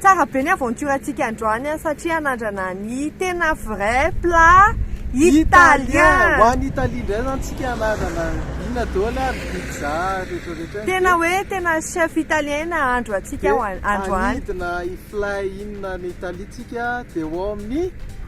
Tsara be ny aventure antsika androany an, satria anandrana ny tena vrai plat italien. Ho any Italie indray zany tsika anandrana ina daholo ary pizza rehetra rehetra. Tena hoe tena chef italien nahandro antsika androany. Dia anidina hiflay iny any Italie tsika dia ao amin'ny.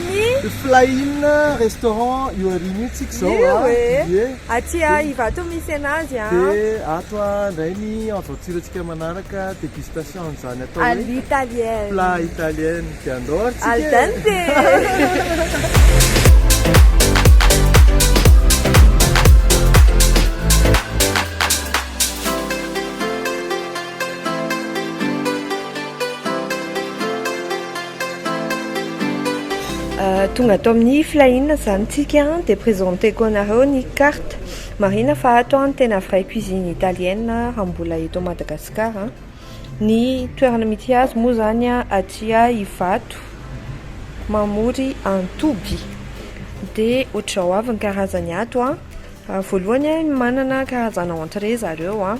Ny Flying restaurant io aoriana io tsika izao a. Io e! Ie. Aty a Ivato misy anazy a. Dia ato a indray ny aventure antsika manaraka, dégustation an'izany atao hoe. À l'italienne. Plat italien dia andao ary tsika e! Al dente! Tonga ato amin'ny filahiana izany tsika dia presenteko anareo ny carte. Marihina fa ato an tena vraie cuisine italienne raha mbola eto Madagascar. Ny toerana mity azy moa izany aty Ivato mamory antoby. Dia ohatr'izao avy ny karazany ato an. Voalohany manana karazana entrée zareo an.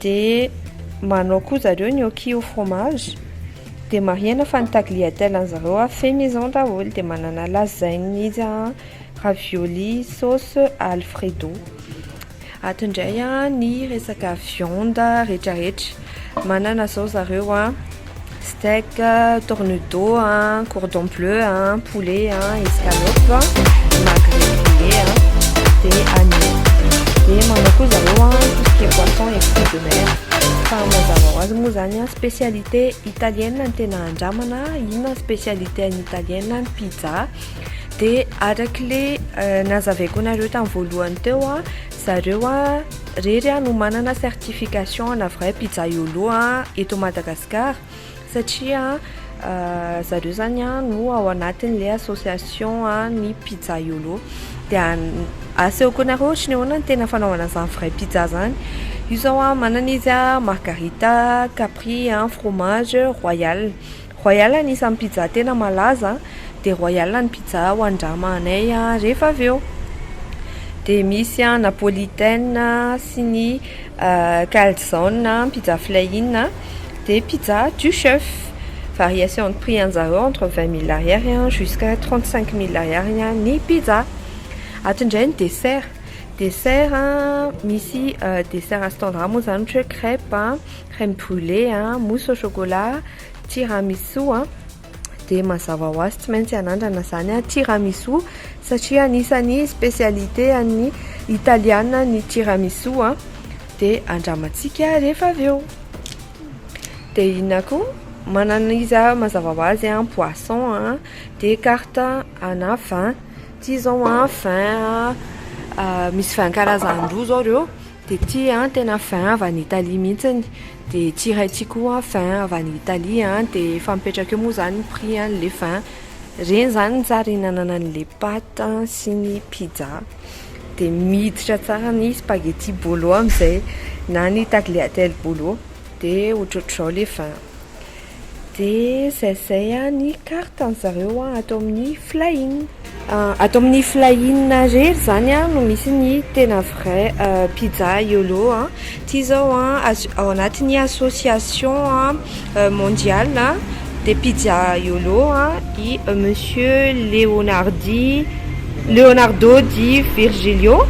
Dia manao koa zareo gnocchi au fromage, dia marihana fa ny tagliatelle an'i zareo a fait maison daholo, dia manana lasagne izy a, ravioli sauce alfredo. Ato indray a ny resaka viande rehetrarehetra, manana zao zareo a, steak, tornudo, cordon bleu, poulet, escalope, magret grillé, dia agneau. Dia manao koa zareo tout ce qui est poisson et fruits de mer. Fa mazava ho azy moa zany spécialité italienne ny tena andramana, inona ny spécialité any italienne, ny pizza. Dia arak'ilay euh, nazavaiko anareo tamin'ny voalohany teo, zareo a, rery a no manana certification ana vrai pizzaïolo a eto Madagascar satria zareo zany a no ao anatin'le association ny pizzaïolo de asehoko anareo ohatry ny ahoana ny tena fanaovana zany vrai pizza zany io zao a manana izy a margarita, capri, fromage, royale. Royal anisan'ny pizza tena malaza dia royal ny pizza hoandrama anay rehefa avy eo dia misy an napolitain sy ny calzone pizza flahin dia pizza du chef variation de prix anjareo entre vingt mille ariary jusqu'à trente cinq mille ariary ny pizza ato indray ny dessert dessert misy dessert standard moa izany ohatra hoe crèpe crème brulé mousse au chocolat Tiramisu a, dia mazava ho azy tsy maintsy hanandrana izany aho, tiramisu, satria anisan'ny spécialité an'ny Italiana ny tiramisu a, dia andramantsika rehefa avy eo. Dia inona koa? Manana izy aho mazava ho azy an, poisson a, dia carte ana vin, ity izao an vin a, misy vin karazany roa izao ireo. Dia ity an tena vin avy any Italie mihitsiny dia ity iray ity koa an vin avy any Italie an dia efa mipetraka eo moa izany ny prix an ilay vin ireny izany ny tsara ihinanana an'ilay pâte an sy ny pizza dia miditra tsara ny spaghetti bolo amin'izay na ny tagliatelle bolo dia ohatrohatr'izao ilay vin De zay zay a ny carte an zareo a ato amin'ny flying. Ato amin'ny flying rery zany a no misy ny tena vrai pizza yolo a ty zao a azo ao anatin'ny association a mondial a de pizza yolo a i monsieur leonardy leonardo di virgilio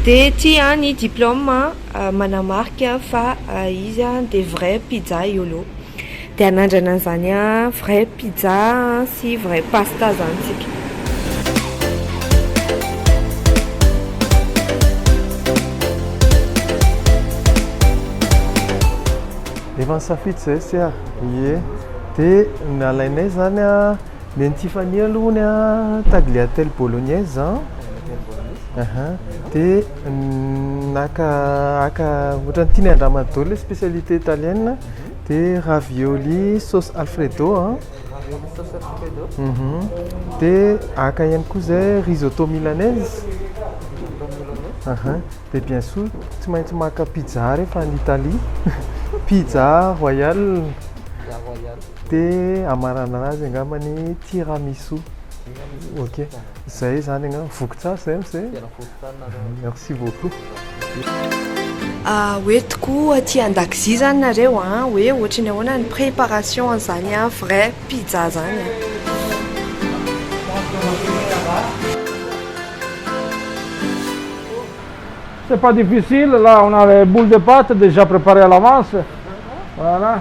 de ty a ny diploma. manamarika fa izy dia vrai pizza yolo dia hanandrana an'izany vrai pizza sy vrai pasta zany tsika. Efa nisafidy izay sy aho, ie dia ny alainay izany Dia ny Tiffany aloha hono an, tagliatelle bolognaise an, aha, dia naka haka ohatran'ny tiany handramana daholo ilay spécialité italienne, dia ravioli sauce alfredo an, dia haka ihany koa izay risotto milanaise, aha, dia bien sûr tsy maintsy maka pizza rehefa any Italie, pizza royale. Te hamaranana azy angamba ny tiramisu. Ok. Zay izany angamba. Voky tsara izay amin'izay. Tena voky tsara nareo. Merci beaucoup. Ah, hoe tokoa aty an-dakozia zany nareo an, ah, hoe ohatry ny ahoana ny préparation an'izany an, vrai pizza zany an. C'est pas difficile, là on a les boules de pâte déjà préparées à l'avance, voilà,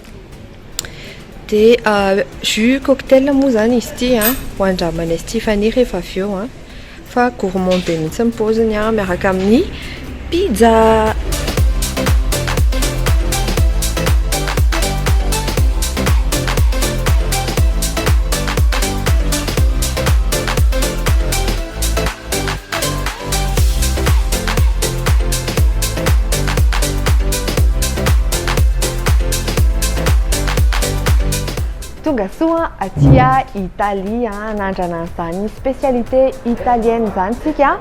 Dia jus cocktail moa izany izy ity an, ho andramanay sy Tiffany rehefa avy eo an, fa gourmand be mihitsy ny paoziny an, miaraka amin'ny pizza. Tonga soa aty Italia, anandrana ah, an'izany spécialité italienne izany tsika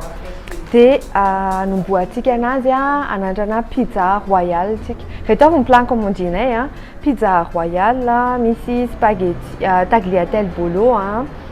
dia ah, anombohantsika anazy ah, anandrana pizza royale tsika. Reto avy ny plan commandinay, pizza royale, misy spaghetti, tagliatelle bolo,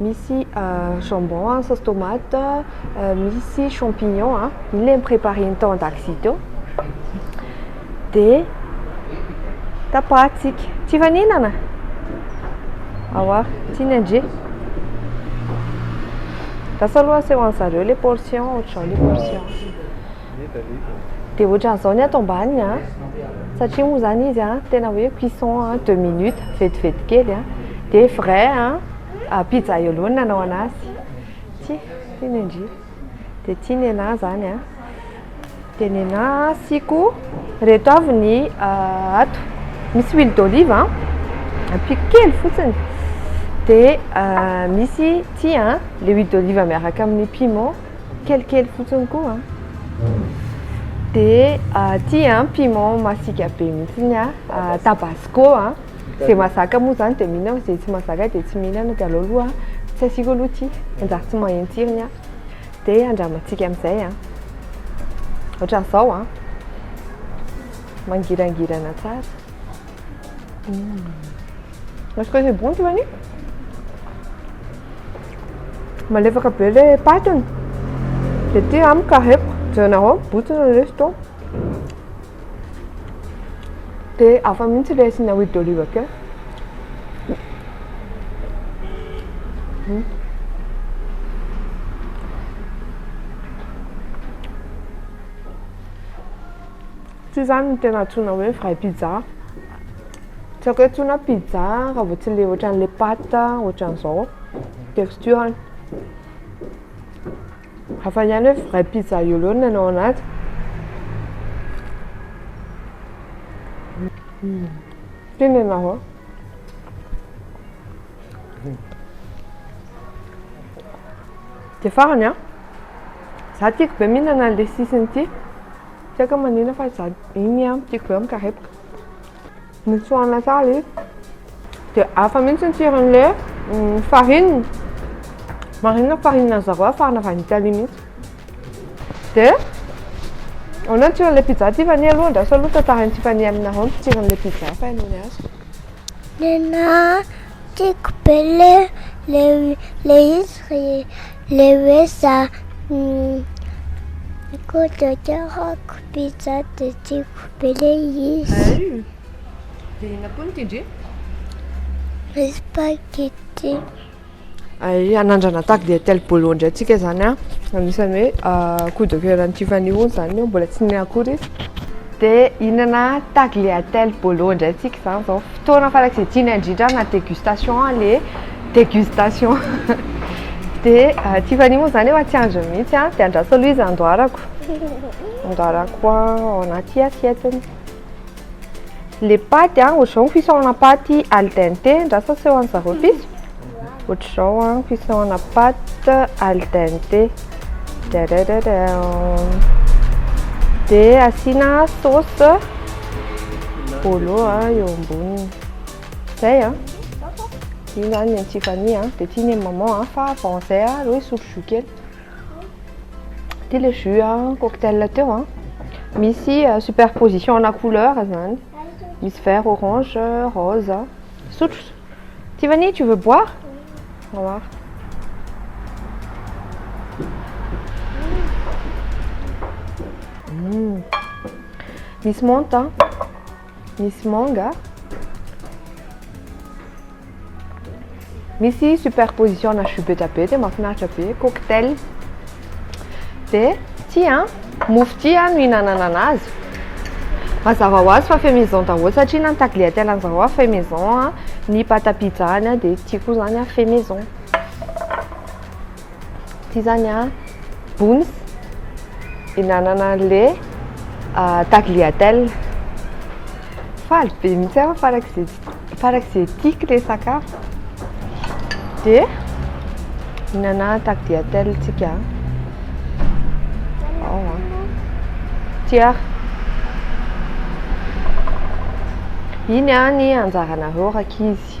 Misy jambon an, sauce tomate, misy champignon an, iny le nipreparen'ny tao an-dakozia teo. Dia tapahantsika. Tsy efa nihinana? Awa, tsy ny andre. Lasa aloha asehoan'i zareo le portion, ohatr'izao le portion. Dia ohatran'izao ny ato ambany a, satria moa izany izy a, tena hoe cuisson a deux minutes, vetivety kely a. Dia vrai a, pizzaïolo no nanao an'azy. Ity, ity ny an-dry. Dia ity ny an'ahy izany a. Dia ny an'ahy asiako, ireto avy ny ato, misy huile d'olive a, ampiako kely fotsiny. Dia misy ity a, ilay huile d'olive miaraka amin'ny piment. kelikely fotsiny koa dia aty a piment masika be mihitsiny a tabasco a zay mazaka moa zany dia mihinana fa zay tsy mazaka dia tsy mihinana dia aleo aloha tsy asiako aloha ity manjary tsy maheno tsirony aho dia andramantsika amin'izay a ohatran'izao a mangirangirana tsara Est-ce que c'est bon Tivani? Malefaka be le patiny de ty amiko carré-ko jerenareo botsina le izy to de hafa mihitsy le asiana huile d'olive kely Tsy izany no tena antsoina hoe vrai pizza. Tsy haiko hoe antsoina pizza raha vao tsy ilay ohatran'ilay pâte ohatran'izao texture-ny. Hafa ihany hoe vrai pizza eo ho eo ny any ao anaty. Ity ny anà ô. Dia farany an! Izaho tiako be mihinana an'ilay sisiny ity. Tsy aiko manina fa za iny an tiako be mikarepoka. Notsoahina tsara izy. Dia hafa mihitsy ny tsiron'ilay mm, farine. Marina fa farine an'i zareo afarana avy any Italie mihitsy. Dia ahoana ny tsiron'ilay pizza Tiffany aloha andraso aloha tantarain'i Tiffany aminareo ny tsiron'ilay pizza fa hainao ny azy. Nenaha, tiako be le le le izy re, Le hoe za ko de tiako pizza de tiako be le izy. De inona koa no tiandry? Le spaghetti. Ay hanandrana tagliatelle bolo indray tsika zany a, anisany hoe coup de coeur an'i Tiffany hono zany io mbola tsy nihinana akory izy, de hihinana tagliatelle bolo indray tsika zany zao, fotoana farak'izay tiany indrindra na degustation le. Dégustation. Dia Tiffany moa izany efa tsy andriny mihitsy an, dia andraso aloha izy andoharako. Andoharako ao anaty assiette-ny. Ilay paty an, ohatr'izao ny fisaorana paty al dente, andraso aseho an-dry zareo piso. Ohatr'izao an, fisaorana paty al dente. Dia asiana sauce bolo eo amboniny. Zay a. Io zany ny an'i Tiffany a, dia tiany an'i maman a, fa avant zay a, aleo hisotro jus kely. Ity le jus a, cocktail teo a. Misy superposition ana couleur zany. Misy vert, orange, rose. Sotro. Tiffany, tu veux boire? Boire. Misy menthe a. Misy manga. Misy superposition na jus betrabe tena mahafinaritra be, cocktail. Dia ity an, mofo ity an no ihinanana anazy. Mazava ho azy fa fait maison daholo satria na ny tagliatelle any zaroa fait maison, ny pâte à pizza any dia ity koa izany fait maison. Ty zany a, boons, hinanana an'le tagliatelle. Faly be mihitsy aho farak'izay farak'izay tiako le sakafo. Dia hinana tagliatelle tsika. Ao a. Tia. Iny a ny anjaranareo rakizy.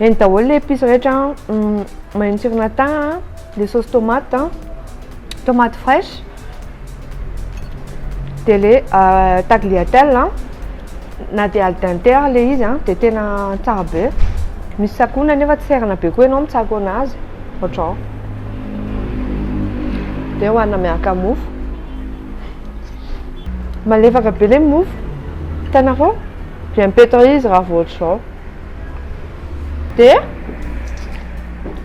Eny daholo le épices rehetra mahery tsirona thym, le sauce tomate, tomate fraîche, dia le tagliatelle na dia al dente ary le izy dia tena tsara be, misy tsakoana nefa tsy serana be koa ianao mitsako anazy ohatrao, dia hohanina miaraka amin'ny mofo, malefaka be le mofo, hitanareo? Dia mipetraha izy raha vao ohatr'izao. Dia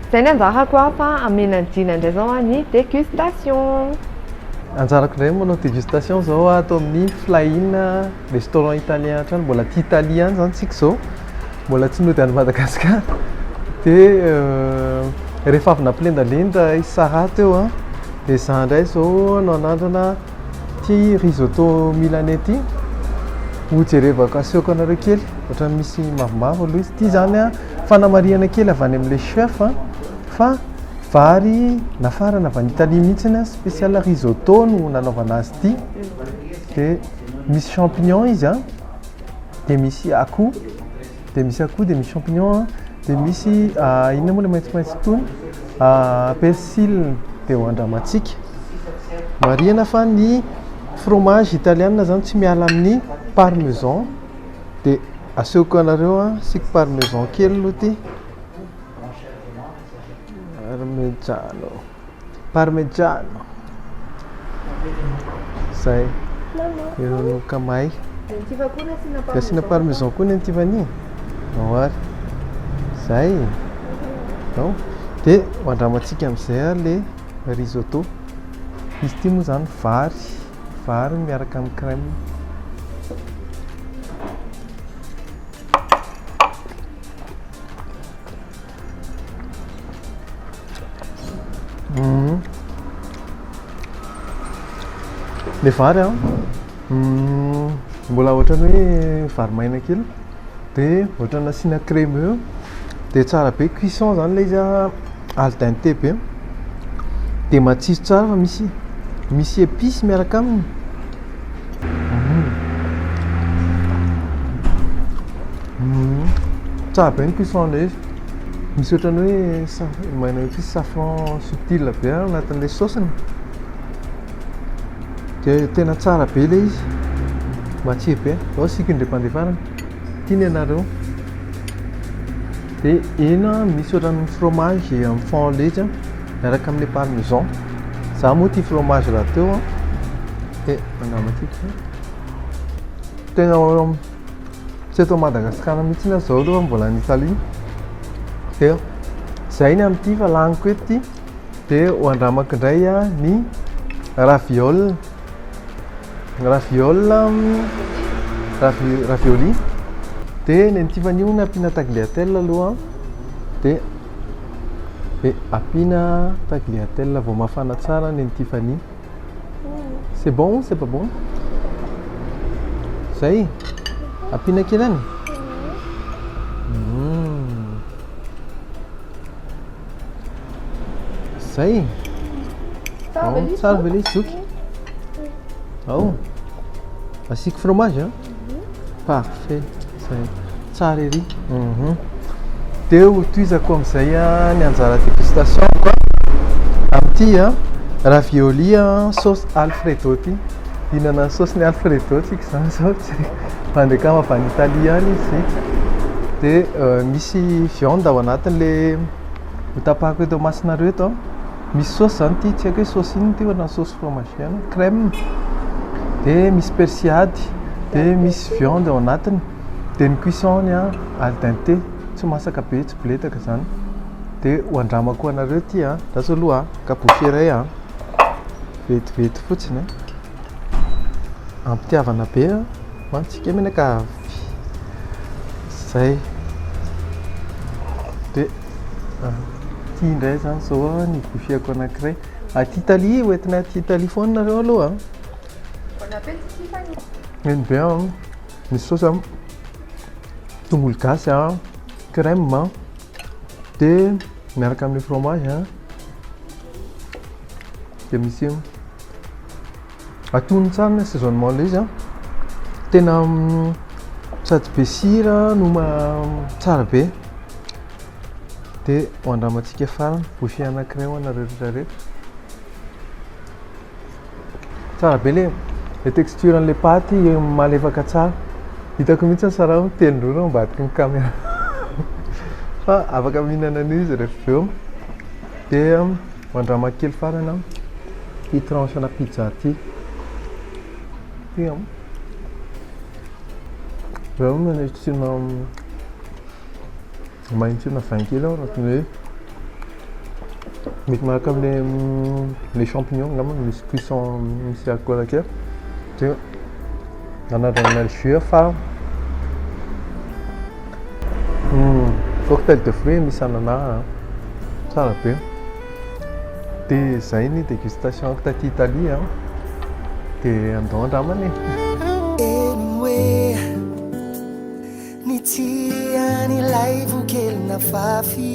izay ny anjarako an, fa hamena an'i Jina indray izao an ny dégustation. Anjarako indray ny manao dégustation izao an, ato amin'ny Flying restaurant italien hatrany, mbola aty Italie ihany izany isika izao, mbola tsy nody any Madagasikara. Dia rehefa avy nampilendalenda i Sarah teo an, dia izaho indray izao no hanandrana. Ity risotto milanais ity ho jerevako asehoko anareo kely ohatran'ny misy mavomavo aloha izy ity zany a fanamarihana kely avy any amin'ilay chef a fa vary nafarana avy any Italie mihitsy a spécial risotto no nanaovana azy ity dia misy champignon izy a dia misy akoho Dia misy akoho, dia misy champignon, dia misy inona moa ilay maitsomaitso tony, persil, dia ho andramantsika. Marihana fa ny fromage italiana zany tsy miala amin'ny parmesan, dia asehoko anareo an, asiako parmesan kely aloha ity, parmegiano. Parmegiano. Zay. Heronoka may. Dia asiana parmesan koa ny Tiffany. Ao ary. Zay. Ao. Dia andramantsika amin'izay ary le risotto. Izy ity moa zany vary, vary miaraka amin'ny crème. Mmh. Le vary an mmh. mbola ohatran'ny hoe vary maina kely dia ohatran'ny nasiana crème eo dia tsara be cuisson zany ilay izy al dente be dia matsiro tsara fa misy misy épice miaraka aminy Tsara be ny cuisson an'ilay izy. Misy ohatran'ny hoe saf- maina hoe tsisy safran subtil be ao anatin'ilay saosiny. Dia tena tsara be ilay izy, matsiro be. Izao asiako indray mpandeha farany, tiana ianareo. Dia hena misy ohatran'ny fromage en fond leitra. Miaraka amin'ny parmesan. Za moa tia fromage rahateo an. Dia andramatiko. Tena tsy eto Madagasikara mihitsy aho zao aloha mbola any Italie. Dia zay ny amin'ity fa laniko eto ity. Dia ho andramako indray ny raviol. Raviol ravioli. Dia ny an'i Tiffany io nampiana tagliatelle aloha. Dia Be ampiana tagliatelle vao mafana tsara neny Tiffany. C'est bon ou c'est pas bon? Zay. Ampiana kely any. Hmm. Zay. Tsara ve ilay zoky? Ao. Asiako fromage a. Parfait zay. Tsara ery. Mhm. Dia ho tohizako amin'izay ah, ny anjara dégustation-ko ah, amin'ity ah, ravioli ah, sauce alfredo ity. Hihinana ny saosiny alfredo tsika izany izao, tsy haiko. Bandy akama avy any Italie any izy. Dia eh, misy viande ao anatin'ilay hotapahako eto imasonareo eto an. Misy saosy zany ity, tsy haiko hoe saosy inona ity fa na saosy fromage ihany, crème, dia misy persil ady, dia misy viande ao anatiny, dia ny cuisson-ny an, al dente, tsy masaka be, tsy biletaka zany, dia ho andramako ho anareo ity an, andraso aloha an, kabosy iray an, vetivety fotsiny an, am-pitiavana be an, ho antsika menaka avy. zay de aty indray zany zao a ny gofiako anankiray aty Italie hoentina aty Italie foana nareo aloha a Bon appétit Tiffany Eny be an, ny saosy an, tongolo gasy an, crème an, dia miaraka amin'ny fromage an, dia misy. Atonony tsara ny assaisonnement ilay izy an. Tena sady be sira no tsara be. Dia ho andramantsika farany, bouchée anankiray ho anareo rehetra rehetra. Tsara be ilay le texture an'ilay paty malefaka tsara. Hitako mihitsy ny sarao mitelin-drora ao ambadiky ny caméra. Fa afaka mihinana an'io izy rehefa avy eo. Dia mandramaka kely farany aho ity tranche-na pizza ity. Ity an. Raha hoe manao tsirona maheno tsirona vin kely aho raha hoe mety manaraka amin'ilay mm, les champignons angamba misy cuisson misy alcool kely. Dia. Nanadrana ny jus fa hmm, cocktail de fruits misy anana tsara be dia izay ny dégustation taty Italie dia andao andramana e ny tian'ilay vokelina fafy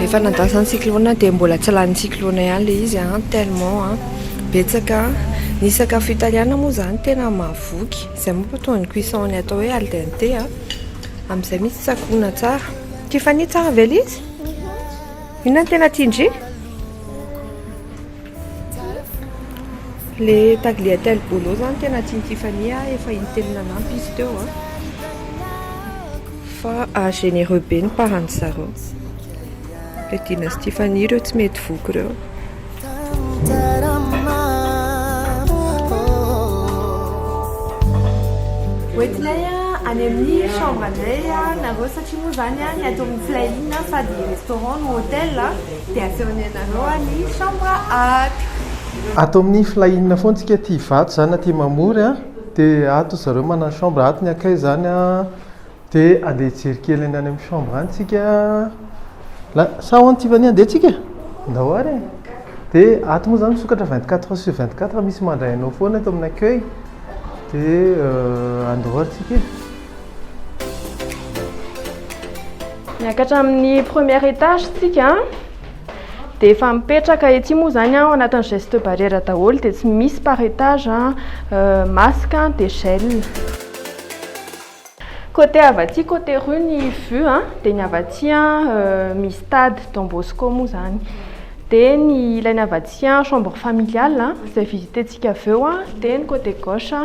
Rehefa nandasa ny cyclone dia mbola tsy lanin'ny cyclone ihany ilay izy an, tellement betsaka ny sakafo italiana moa izany tena mahavoky, izay moa fa toa ny cuisson ny atao hoe al dente an, amin'izay misy tsakoana tsara. Tiffany tsara ve ilay izy? Inona no tena tian-dry? Le tagliatelle bolo zany tena tian'i Tiffany a, efa intelo nanampy izy teo a, fa généreux be ny parents zareo, le dinan'i Tiffany ireo tsy mety voky ireo. Hoentinay any amin'ny chambre anay nareo satria moa zany ny ato amin'ny Fly Inn fa dia restaurant no hotel. Dia asehon ny anareo any chambre ato. Ato amin'ny fly in foana tsika aty ivato zany aty mamory a, dia ato ry zareo manana chambre ato ny akay zany a, dia ande hijery kely any amin'ny chambre any tsika la sa ahoana Tiffany ande tsika e? Ndao ary e! dia ato moa zany misokatra vingt quatre heures sur vingt quatre misy mandray anao foana ato amin'ny accueil dia andao ary tsika e! Miakatra amin'ny première étage tsika dia efa mipetraka ety moa izany ao anatin'ny geste barrière daholo dia tsy misy par étage euh, masque dia gel côté avy aty côté rue ny vue a dia ny avy aty euh, misy stade Don Bosco moa izany dia ny ilany avy aty chambre familiale izay visitentsika avy eo dia ny côté gauche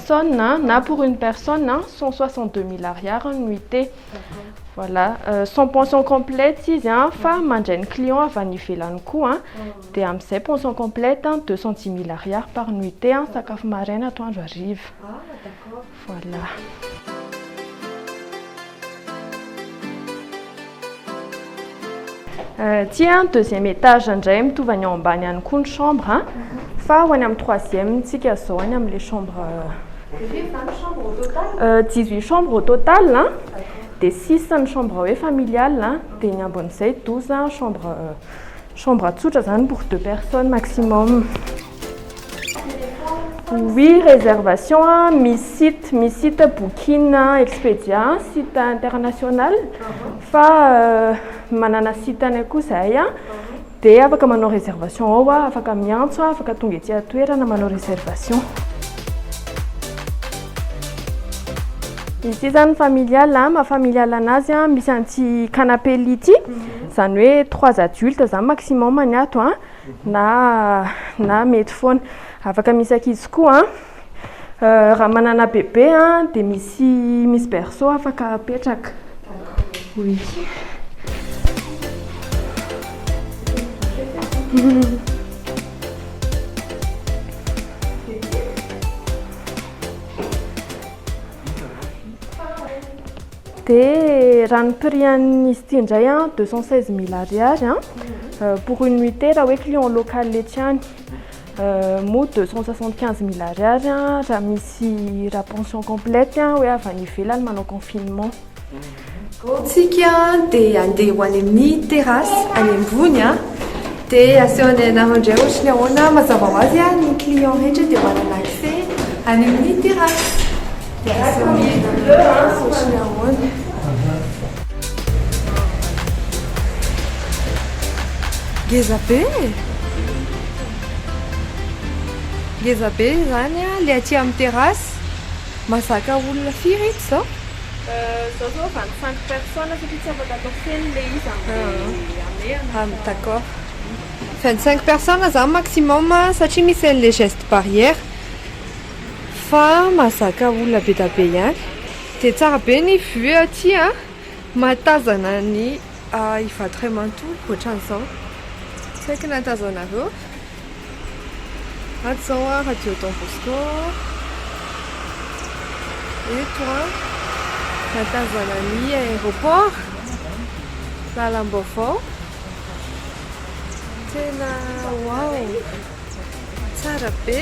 personne na pour une personne a cent soixante deux mille ariary an nuitée voilà sans pension complète izy an fa mandray ny client avy any ivelany koa an dia amin'izay pension complète an deux cent dix mille ariary par nuitée an sakafo maraina atoandro hariva voilà Aty an deuxième étage indray mitovy any ao ambany any koa ny chambre an fa ho any amin'ny troisième tsika zao any amin'le chambre dix huit chambre au total an dia six ny chambre hoe familial an dia ny ambin'izay douze an chambre chambre tsotra zany pour deux personnes maximum Oui réservation a, misy site, misy site booking a, expedia, site international, fa manana site any koa zahay a, dia afaka manao réservation ao a, afaka miantso a, afaka tonga ety an-toerana manao réservation. Izy ity zany familial a, maha familial anazy a, misy an'ity canapé lit ity, zany hoe trois adultes zany maximum ny ato a. na na mety foana afaka misy ankizy koa raha manana bebe dia misy misy berceau afaka apetraka oui Dia raha ny prix an'izy ity indray an, deux cent seize mille ariary an, pour une nuitée raha hoe client local etsy ihany. Moa deux cent soixante quinze mille ariary an, raha misy raha pension complète an, hoe avy any ivelany manao confinement. Izao isika dia handeha ho any amin'ny terrasse any ambony an. Dia asehonay anareo indray ohatry ny ahoana, mazava ho azy a, ny client rehetra dia manana accès an'io ny terrasse. Dia asehonay anareo azy ohatry ny ahoana. Ngeza be e! Ngeza be izany a, le aty amin'ny terrasse, mahazaka olona firy ito izao? Zao zao vingt cinq personnes satria tsy afaka atao feno le izy amle hamehana fa. Ah d'accord. Vingt cinq personnes zany maximum satria misy anle geste barrière fa mahazaka olona bedabe ihany. De tsara be ny vue aty a, mahatazana ny Ivato ray manontolo ohatran'izao. Tsy hay k'na tazanareo. Ato izao an, radio Don Bosco, eto an, mahatazana ny aéroport, lalam-baovao, tena wow, tsara be.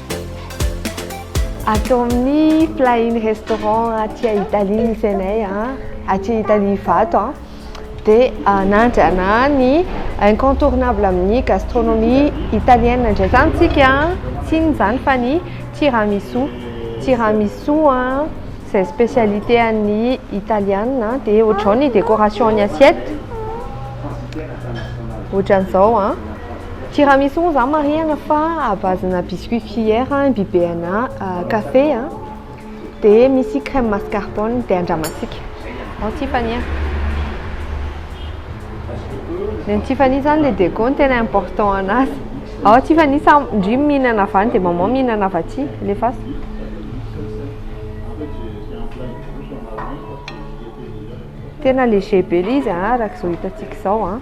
Ato amin'ny Flying Restaurant aty à Italie misy anay a, aty Italie Ivato a, dia anandrana ny incontournable amin'ny gastronomie italienne indray izany isika, tsy inona izany fa ny tiramisu, tiramisu a, izay spécialité an'ny Italiana, dia ohatr'izao ny décoration ny assiette, ohatran'izao an. Tiramisu moa za marihana fa à base na biscuit fier an, imbibe ana café an, dia misy crème mascarpone dia andramantsika ao Tiffany an. Ny an'i Tiffany izany ilay déco no tena important anazy. Ao Tiffany sa ndry mihinana avy any dia maman mihinana avy aty? Alefaso. Tena léger be ilay izy an, araka izao hitantsika izao an.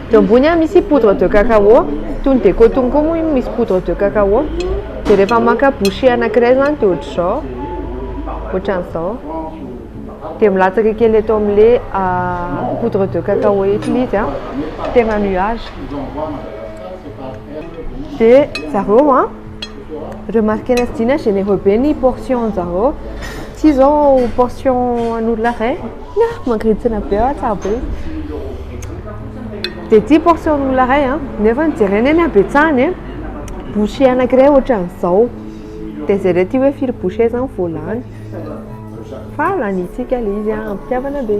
Eo ambony a misy poudre de cacao, toy ny déco tony koa moa io misy poudre de cacao, dia rehefa maka bouchée anankiray izany dia ohatr'izao, ohatran'izao, dia milatsaka kely eto amin'ilay poudre de cacao eto ilay izy an, tena nuage, dia zareo an. Remarquer-na sy Dina généreux be ny portion zareo, ity zao portion an'olona iray, ah mangirintsina be aho tsara be izy, dia ity portion an'olona iray an, nefa jerena eny habetsahany e, bouchée anankiray ohatran'izao, dia jereo ity hoe firy bouchée zany vao lany, fa lanintsika ilay izy an, am-pitiavana be.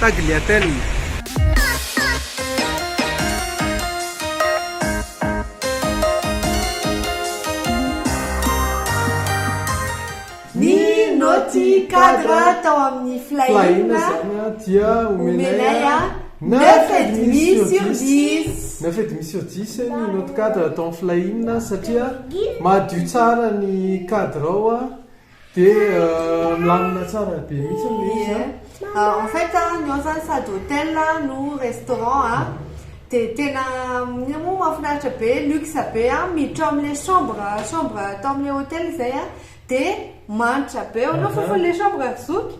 Tagliatelle. Ny naoty cadre tao amin'ny Flying dia omenay a neuf et demi sur dix. Neuf et demi sur dix ny naoty cadre tao amin'ny Flying satria madio tsara ny cadre ao. Dia milamina tsara be mihitsy ny Neos a. Euh, en fait, ny ao zany sady hotel no restaurant a, dia tena io moa mahafinaritra be, luxe be a, miditra ao amin'ilay chambre, chambre atao amin'ilay hotel izay a, dia manitra be, ahoana fofon'ilay chambre ry zoky?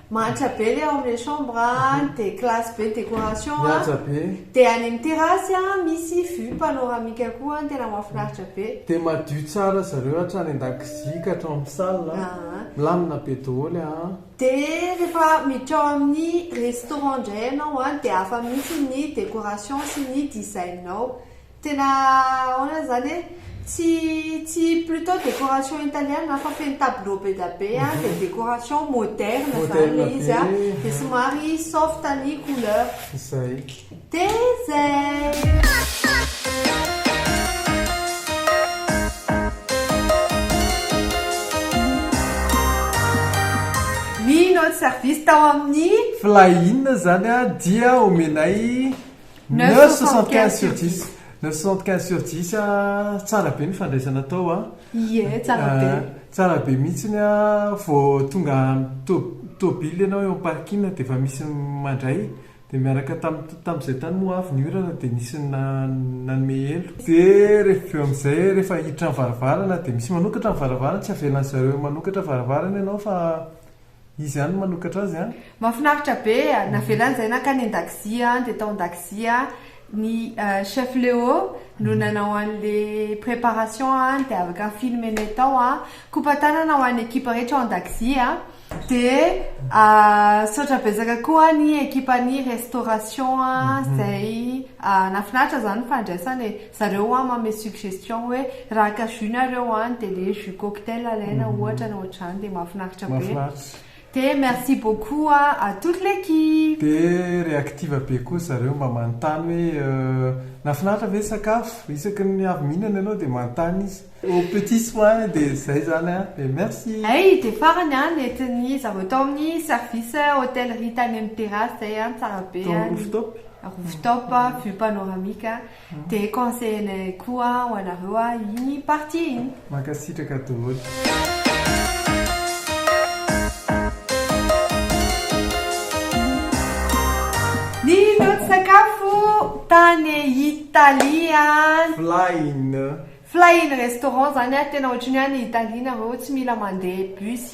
Mahantra be le ao amle chambre an, de classe be décoration an, Mihaja be. de any amin'ny terrasse an misy vue panoramique koa an, tena mahafinaritra be. Dia madio tsara zareo hatrany an-dakozia ka hatrao amin'ny salle an, Aa. milamina be doholy aa. Dia rehefa miditra ao amin'ny restaurant indray ianao an, dia hafa mihitsy ny décoration sy ny design ao. Tena ahoana zany e? Tsy tsy plutôt décoration italienne an fa feno tableau be da be an dia décoration moderne zany Moderne ilay izy an be, dia ah. somary soft ny couleur. Izay. Dia izay! Ny notre service tao amin'ny. Fly in zany an dia omenay. Neuf soixante quinze sur dix. Neuf soixante quinze sur dix a, tsara be ny fandraisana atao a. Ie, tsara be. Ah, tsara be mihitsiny a, vao tonga amin'ny to- tôbily ianao eo am-parking dia efa misy mandray, dia niaraka tamin'ny tamin'izay tany moa avy ny orana dia nisy na- nanome elo. Dia rehefa avy eo amin'izay rehefa hiditra ny varavarana dia misy manokatra ny varavarana, tsy avelan'izareo manokatra varavarana ianao fa. Izy ihany no manokatra azy an! Mafinaritra be a! Navelany izay nankany an-dakozia an, dia tao an-dakozia ny chef Léo no nanao an'le préparation an, dia avy ka filmer-nay tao an! Kopa tanana ho an'ny ekipa rehetra ao an-dakozia an! Dia misaotra betsaka koa ny ekipan'ny restauration an, izay nahafinaritra izany ny fandraisana e! Zareo hoa manome suggestion hoe raha haka jus nareo any dia le jus cocktail alaina ohatra na ohatr'izany dia mahafinaritra be. Mahafinaritra. Dia merci beaucoup à toute l'équipe. Dia réactive be koa zareo mba manontany hoe nahafinaritra ve ny sakafo? Isaky ny avy mihinana ianao dia manontany izy. Aux petits soins dia izay izany an! Dia merci. Hay dia farany an nentin'ny zareo tao amin'ny service hotellerie tany amin'ny terrasse izay an, tsara be an, Tao amin'ny rooftop. rooftop vue panoramique an. Dia conseille koa ho anareo aho iny partie iny. Mankasitraka daholo. Ny nody sakafo tany Italia. Flying. Flying restaurant zany tena ohatry ny hoe any Italia nareo tsy mila mandeha bus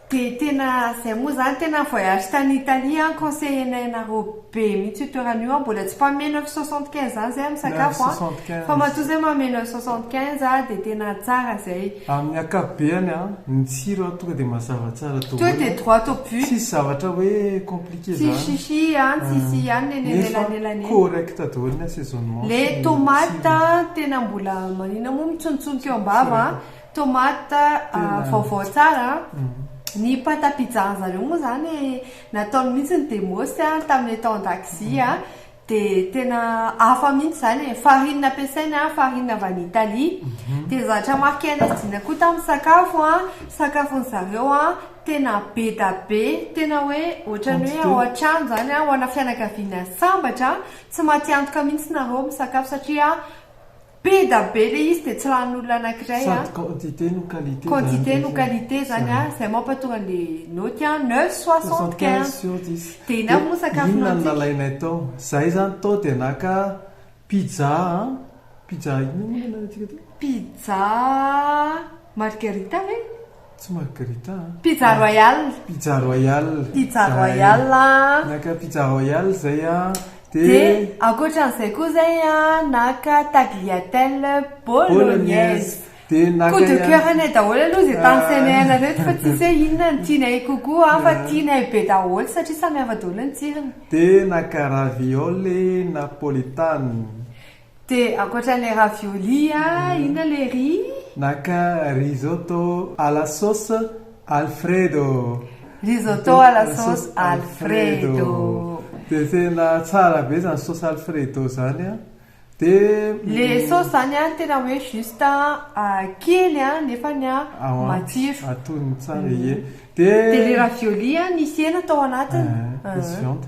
Dia tena zay moa zany tena voyage tany Italie an conseiller nay anareo be mihitsy io toerana io an mbola tsy mpanome neuf cent soixante quinze zany zay am sakafo an fa matoa zay manome neuf cent soixante quinze an dia tena tsara zay. Amin'ny akapobeany an ny tsiro an tonga dia mazava tsara daholo an, tsisy zavatra hoe compliqué zany, nefa correct daholo ny assaisonnement sy ny tsirony. Tomate vaovao tsara an! Ny pâte à pizza an'zareo moa zany nataony mihitsy ny demos tamin'ilay tao an-dakozia an! Dia tena hafa mihitsy izany e! Farine nampiasainy an, farine avy any Italie, dia ny zavatra marqué anay sy Dina koa tamin'ny sakafo an, sakafon'zareo an, tena be da be, tena hoe ohatran'ny hoe ao an-trano izany an, ho ana fianakaviana sambatra an! Tsy matiantoka mihitsy nareo misakafo satria Peda be le izy de tsy lanin'olona anakiray a. Sady quantité no qualité zany. Quantité no qualité zany a. Zay mampatonga anle naoty a. Neuf soixante quinze sur dix. De ina moa sakafo nantsika. Inona no nalainay tao. Zay zany tao de naka pizza a. Pizza inona moa le nalaintsika tao. Pizza margarita ve? Tsy margarita an. Pizza royal. Pizza royal. Pizza royal an. Naka pizza royal zay an. Dia ankoatran'izay koa zay an, naka tagliatelle bolognaise. Dia naka ihany. Coup de coeur anay daholo aloha izay tany semer-na reto fa tsisy hoe inona no tianay kokoa an, fa tianay be daholo satria samy hafa daholo ny tsirony. Dia naka raviole napolitane. De ankoatra le ravioli a inona le riz? Naka risotto à la sauce Alfredo. Risotto à la sauce Alfredo. De tena tsara be zany sauce Alfredo zany a. De. Le sauce zany a tena hoe juste a kely a nefany a matsiro. Atony tsara ie. De. De le ravioli a nisy hena tao anatiny. Misy viande.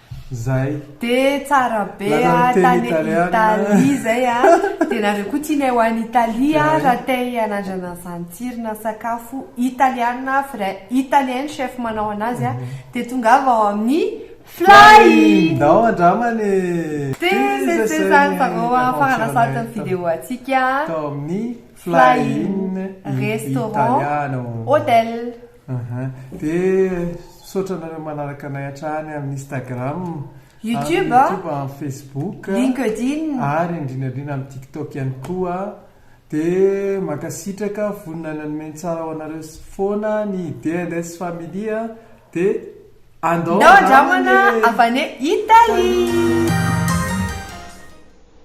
zay. Dia tsara be a tany Italie zay a dia nareo koa tianay ho any Italie a raha te hanandrana an'izany tsirona sakafo italiana vrai italien ny chef manao anazy a dia tongava ao amin'ny Fly! Ndao andramana e! Dia zay zany varao a faranasatry ny video antsika tao amin'ny Fly in Restaurant Hotel. Aha, dia misaotra anareo manaraka anay hatrany amin'ny Instagram, YouTube, amin'ny Facebook, LinkedIn, ary indrindra indrindra amin'ny TikTok ihany koa. Dia mankasitraka, vonona ny hanome ny tsara ho anareo foana ny DNS Family, dia andao andramana e! Andao andramana avy any Italie!